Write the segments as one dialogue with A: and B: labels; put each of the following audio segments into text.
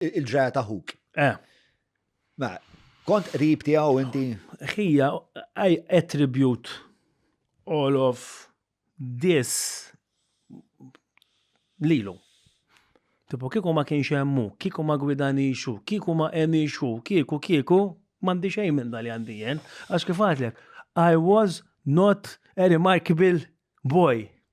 A: il-ġraja ta' ħuk. Eh. Ma, kont qrib tiegħu inti. Ħija,
B: I attribute all of this lilu. Tipo, kieku ma kienx hemmu, kieku ma gwidani xu, kieku ma emi xu, kieku, kieku, mandi xejn minn dal għandi jen. Għax kif għatlek, I was not a remarkable boy.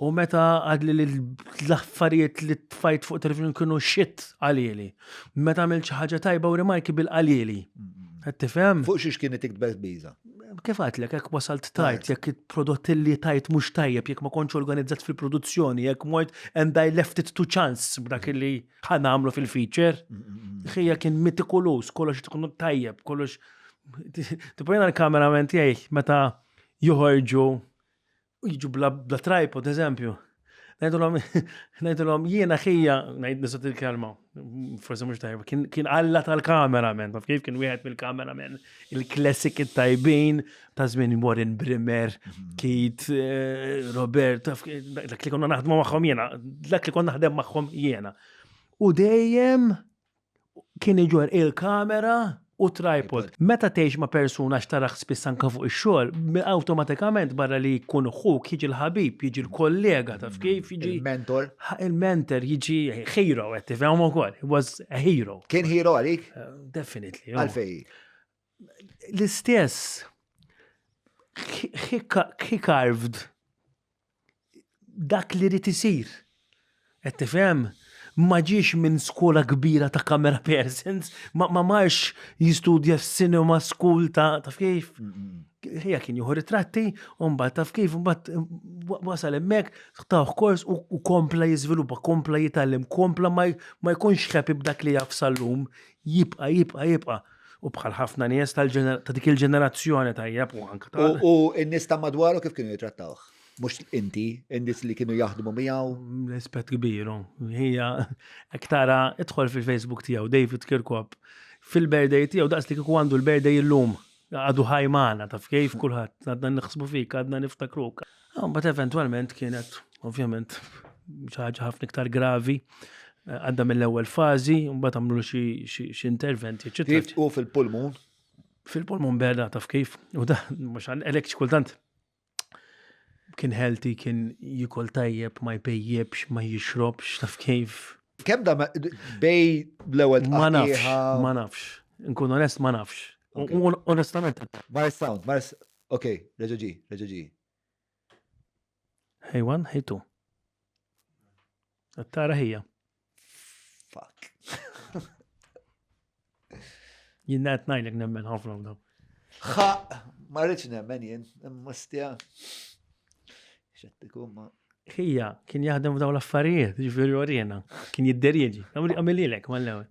B: U meta għadli li l-affarijiet li tfajt fuq television kienu xit għalili. Meta għamil ħaġa tajba u rimarki bil għalili. Għed tifem? Fuq xiex kien itik tbess
A: biza. Kif għatlek, jek
B: wasalt tajt, jek il-prodott li tajt mux tajjeb, jek ma konċ organizzat fil-produzzjoni, jek mort and I left it to chance b'dak li ħana għamlu fil-feature. Xija kien mitikulus, kollox tkunu tajjeb, kollox. Tipojna l-kamerament jgħi, meta juħorġu jiġu bla tripod, eżempju. Najdulom, najdulom, jiena xija, najd nisot il-kelma, forse mux tajba, kien għalla tal-kameramen, taf kif kien wieħed mill-kameramen, il-klassik tajbin ta' zmin Warren Brimmer, mhm. Kit, eh, Robert, dak li konna naħdmu maħħom jena, dak li konna naħdem maħħom jena. U dejjem kien iġorr il-kamera u tripod. Meta tgħix ma' persuna għax tarah spiss anke fuq ix-xogħol, awtomatikament barra li jkun ħuk jiġi l-ħabib, jiġi l-kollega taf kif, jiġi Il-mentor.
A: il-mentor,
B: jiġi hero qed tifhem ukoll. He was a hero. Kien hero għalik?
A: Definitely.
B: Għalfejn?
A: L-istess,
B: he carved dak li rrit isir. Qed tifhem? Ma ġiex minn skola kbira ta' camera persons, ma marx jistudja f'cinema school ta' taf kif. Ħija kien jieħu ritratti, u mbagħad taf kif, mbagħad wasal hemmhekk, tawh kors u kompla jiżviluppa, kompla jitgħallem, kompla ma jkunx happy b'dak li jaf sal-lum. Jibqa', jibqa', jibqa'. U bħal ħafna nies ta' dik il-ġenerazzjoni tajjeb u anke ta' U n-nies ta'
A: madwaru kif kienu jitrattawh? Mhux inti, in-nies li kienu jaħdmu miegħu? Rispett kbir,
B: hija hekk tara idħol fil-Facebook tiegħu David Kirkop fil-birthday tiegħu daqs li kieku għandu l-birthday illum. Għadu ħaj maħna, taf kif kullħat, għadna nħsbu fik, għadna niftakruk. Għambat eventualment kienet, ovvjament, ċaħġa ħafna iktar gravi, għadda mill-ewel fazi, għambat għamlu xie interventi, ċitri. U fil-pulmun?
A: Fil-pulmun
B: beda, taf kif, u da, mux għan, elek ċkultant, kien healthy, kien jikol tajjeb, ma jpejjibx, ma jixrobx, taf kif. Kem da
A: bej l-ewel Ma nafx,
B: ma nafx. Nkun onest, ma nafx. Onestament. Mars sound,
A: Mars, ok, reġaġi, reġaġi.
B: Hey one, hey two. Tara hija. Fuck. Jien qed ngħidlek nemmen ħafna daw. Ħa,
A: ma rridx nemmen jien, imma stja. Xed ikun
B: ma. Hija, kien jaħdem f'daw l-affarijiet, ġifieri orjena, kien jidderieġi. Għamililek mal-ewwel.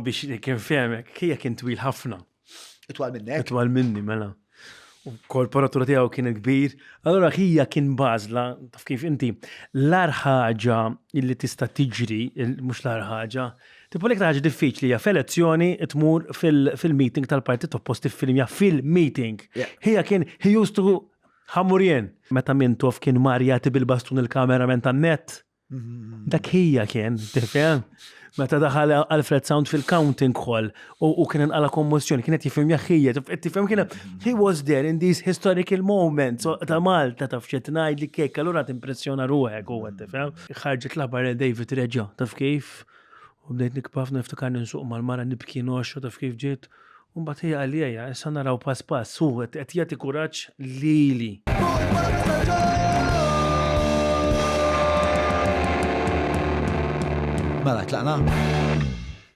B: Biex kien fehmek, kija kien twil ħafna. Itwal minnek?
A: Itwal minni, mela.
B: U korporatura tiegħu kien kbir. Allora kija kien bażla, taf kif inti, l-ar ħaġa illi tista' tiġri, mhux l-ar ħaġa, tipo l-iktar ħaġa diffiċli hija f'elezzjoni tmur fil-meeting tal-partit opposti fil-mja fil-meeting. Hija kien he used to ħamurjen. Meta Mintoff kien marjati bil-bastun il-kameraman tan-net. Dak hija kien, tifhem? Meta daħal Alfred Sound fil-counting hall u kien inqala kommissjoni, kienet jifhem jaħħija, tifhem kien he was there in these historical moments ta' Malta taf xed ngħid li kek allura timpressjona ruħek u tifhem. Ħarġet l-aħbar David reġa' taf kif U bdejt nikba ħafna niftikarni nsuq mal-mara nibki ngħoxxha taf kif ġiet u mbagħad hi għalija issa naraw pass pass hu qed jagħti kuraġġ lili.
A: Mela tlaqna?